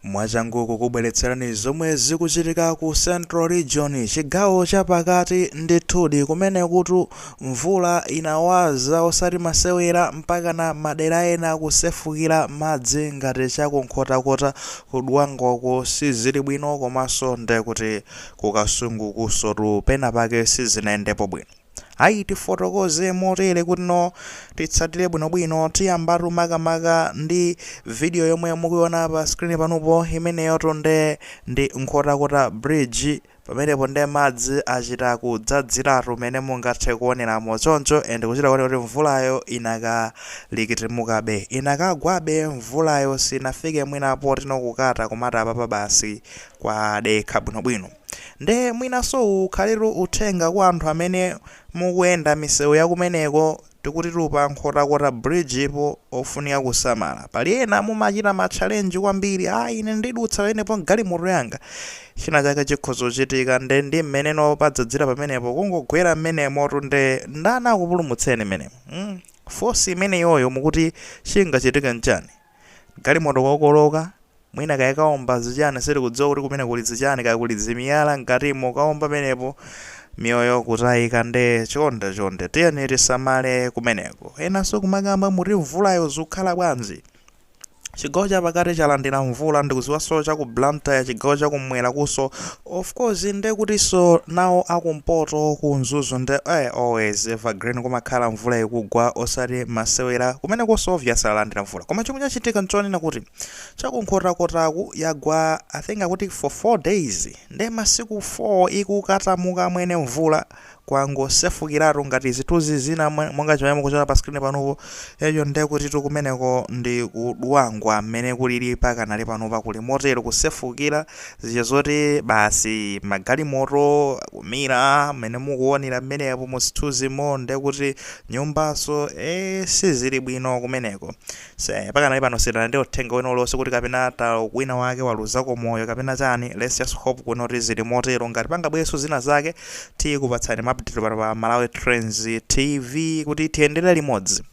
Mwachangu kukubweretserani zomwe zikuchitika ku Central Region, chigawo chapakati, ndithudi kumenekutu mvula inawaza osati masewera mpakana madera ena kusefukira madzi ngati cha ku Nkhotakota, ku Dwangwa uko sizili bwino komanso ndekuti ku Kasungukunsotu penapake sizinayendepo bwino. Ayi, tifotokoze motere kutino titsatire bwinobwino, tiyambatu makamaka ndi video yomwe mukuiona pa screen panupo, imeneyotu nde ndi Nkhotakota Bridge, pamenepo nde madzi achita kudzadziratu mmene mungathe kuoneramo choncho and kuchita kuoneka kuti mvulayo idakalikitimukabe, inakagwabe mvulayo sinafike mwina potino kukata kumati apapa basi kwadekha bwinobwino. Nde mwinaso uwu ukhaletu uthenga kwa anthu amene mukuyenda misewu yakumeneko tikutitu pa Nkhotakota bridge po ofunika kusamala. Pali ena mumachita ma challenge kwambiri ah ine ndidutsa pamenepo galimoto yanga china chake chikhoza kuchitika nde ndi mmeneno padzadzira pamenepo kungogwera mmenemotu nde ndani akupulumutseni mmenemo force imeneyoyo mukuti chingachitike nchani? Galimoto kokoloka, mwina kaya kaomba zichani sitikudziwa kuti kumene kuli zichani kaya kuli zimiyala mkatimo kaomba penepo miyoyo kutaika nde chonde chonde tiyeni tisamale kumeneko. Enaso kumakamba kuti mvulayo zikukhala bwanji? Chigawo chapakati chalandira mvula ndikuziwaso chaku Blantyre chigawo chakumwerakuso Of course nde kutiso nawo akumpoto ku mzuzu nde ee always evergreen kumakhala mvula ikugwa osati masewera kumenekoso obvious alandira mvula koma chomwe chachitika nchonena kuti cha ku nkhotakotaku yagwa I think akuti for 4 days nde masiku 4 ikukatamuka amwene mvula kwangosefukiratu ngati zithunzi zina monga chimene mukuchiona pa screen panupo, eyo ndekutitu kumeneko ndi ku Dwangwa mmene kulili pakadali panopa kuli motero kusefukira zija zoti basi magalimoto kumira mmene mukuonera mmenepo mu zithunzimo ndekuti nyumbanso ee sizili bwino kumeneko. Pakadali pano sitinalandire uthenga wina uliwonse kuti kapena ta wina wake waluzako moyo kapena chani, let's just hope kuti zili motero, ngati pangabwerenso zina zake tikupatsani ma update pano pa Malawi Trends TV kuti tiyendere limodzi.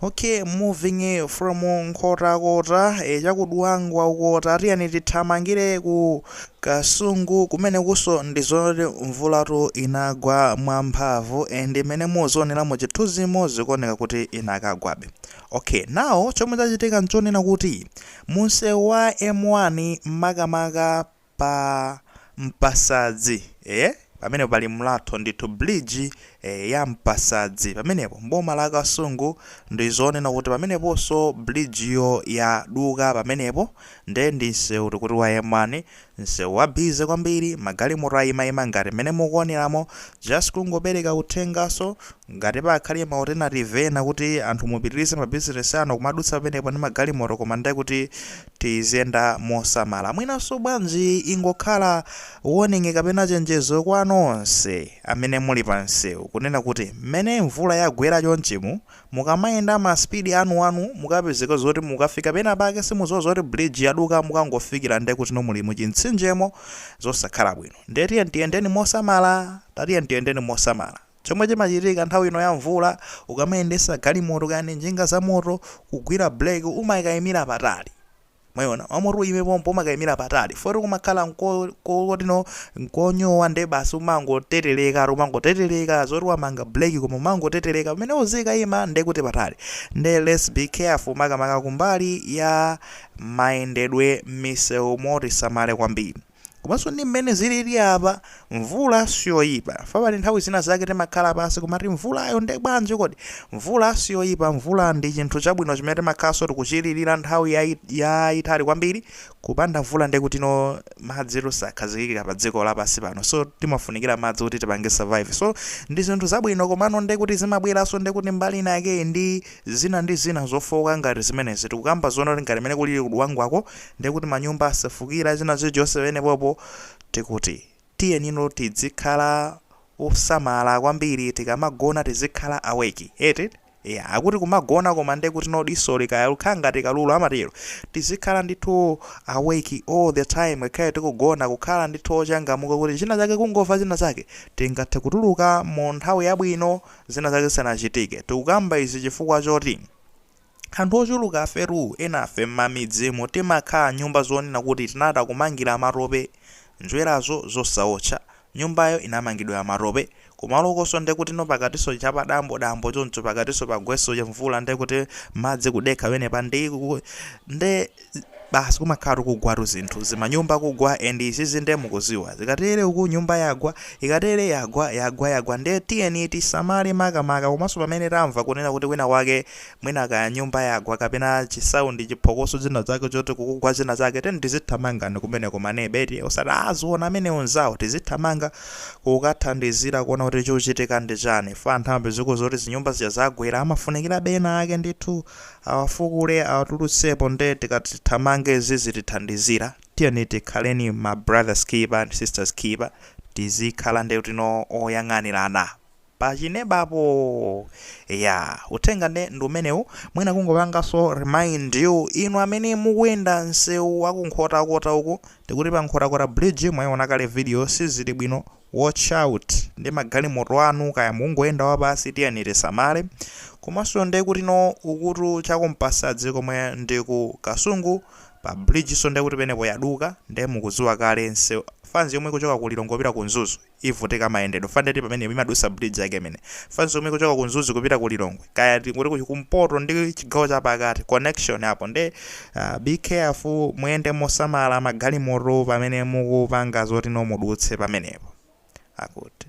Ok, moving from Nkhotakota, cha ku Dwangwa uko ta, tiyeni tithamangire ku Kasungu kumenekunso ndi zonena kuti mvulatu inagwa mwamphamvu and mmene muzionera mu chithunzimo zikuoneka kuti inakagwabe. Ok now chomwe chachitika nchonena kuti munsewu wa M1 makamaka pa Mpasadzi eh pamene pali mlatho ndithu bridge eh, ya Mpasadzi pamenepo mboma la Kasungu ndi zonena kuti pameneponso bridge yo yaduka pamenepo nde ndi nsewu tikuti wa M1 Nsewu wa busy kwambiri, magalimoto ayimayima ngati mmene mukuoneramo, just kungopereka uthenganso, ngati pakhale ma alternative ena kuti anthu mupitirize ma business anu kumadutsa pamenepo ndi magalimoto koma nde kuti tiziyenda mosamala. Mwinanso bwanji ingokhala warning kapena chenjezo kwa nonse amene muli pa nsewu kunena kuti mmene mvula yagwera chonchimu, Mukamayenda ma speed anuanu mukapezeke zoti mukafika pena pake simudziwa zoti bridge yaduka mukangofikira nde kutino muli mu chimtsinjemo zosakhala bwino nde tiyeni tiyendeni mosamala tatiyeni tiyendeni mosamala chomwe chimachitika nthawi ino ya mvula ukamayendesa galimoto kaya ndi njinga za moto kugwira break umakaimira patali Mwaiona? Womati uyime pompo umakaimira patali. Foti kumakhala nko, ko, kotino, nkonyowa nde basi umangotereteka, umangotereteka, zoti wamanga break koma umangotereteka. Pamene uzikaima nde kuti patali. Nde let's be careful makamaka kumbali ya mayendedwe m'misewumo tisamale kwambiri. Komanso ndi mmene zilili apa, mvula siyoipa. Pa pali nthawi zina zake timakhala pansi kumati mvulayo nde bwanji kodi? Mvula siyoipa, mvula ndi chinthu chabwino chimene timakhalanso tikuchilirira nthawi yaitali kwambiri. Kupanda mvula nde kutino madzitu sakhazikika pa dziko lapansi pano. So, timafunikira madzi kuti tipange survive. So, ndi zinthu zabwino komano nde kuti zimabweranso nde kuti mbali inayakeyi ndi. zina ndi zina zofooka ngati zimenezi tikukamba zonena kuti ngati mmene kulili ku Dwangwako ndiye kuti manyumba asefukira zina zonse pamenepopo tikuti tiyenino tidzikhala osamala kwambiri tikamagona tizikhala awake eti eya akuti kumagona koma ndiye kutino disoli kaya mukhala ngati kalulu amatero tizikhala ndithu awake all the time ngakhale tikugona kukhala ndithu ochangamuka kuti china chake kungova china chake tingathe kutuluka mu nthawi yabwino zina zake zisanachitike. Tikukamba izi chifukwa choti anthu ochulukafetu, enafe m'mamidzimu timakhala nyumba zonena kuti tinachita kumangira matope, njwerazo zosaotcha, nyumbayo inamangidwa ya matope, kumalokonso nde kutino pakatinso chapadambo dambo choncho pakatinso pagwenso chimvula nde kuti madzi kudekha pamenepa ndi nde. basi kumakhala tukugwatu zinthu zimanyumba kugwa ndi izizi nde mukuziwa ikatere uku nyumba yagwa ikatere yagwa yagwa yagwa nde tiyeni tisamale makamaka komanso pamene tamva kunena kuti kwina kwake mwina kaya nyumba yagwa kapena chisaundi chiphokoso zina zake choti kukugwa zina zake tiyeni tizithamanga kumene kumanebe eti osati aziona amene anzawo tizithamanga kukathandizira kuona kuti chikuchitika ndi chani fa nthawi zina kuti zinyumba zija zagwera amafunikira ena ake ndithu Awafukule awatulutsepo nde tikatithamange zizitithandizira? Tiyeni tikhaleni ma brothers keeper ndi sisters keeper tizikhala ndikuti no oyang'anirana pachinebapo eya uthenga nde ndi umenewu mwina kungopangaso remind you inu amene mukuyenda nsewu wa ku Nkhotakota uku ndikuti pa Nkhotakota bridge mwaiona kale video sizili bwino watch out ndi magalimoto anu kaya mukungoyenda wapasi tiyeni tisamale komanso ndekuti no ukutu chakumpasadzi komwe ndi ku kasungu pa bridgeso ndekuti penepo yaduka nde mukuziwa kale kuti fans yomwe ikuchoka ku lilongwe kupita ku mzuzu ivutika mayendedwe fandeti pamene imadusa bridge yake imeneyi fans yomwe ikuchoka ku mzuzu kupita ku lilongwe kaya tingoti kumpoto ndi chigawo chapakati connection apo nde Uh, be careful muyende mosamala magalimoto pamene mukupanga zoti no mudutse pamenepo akuti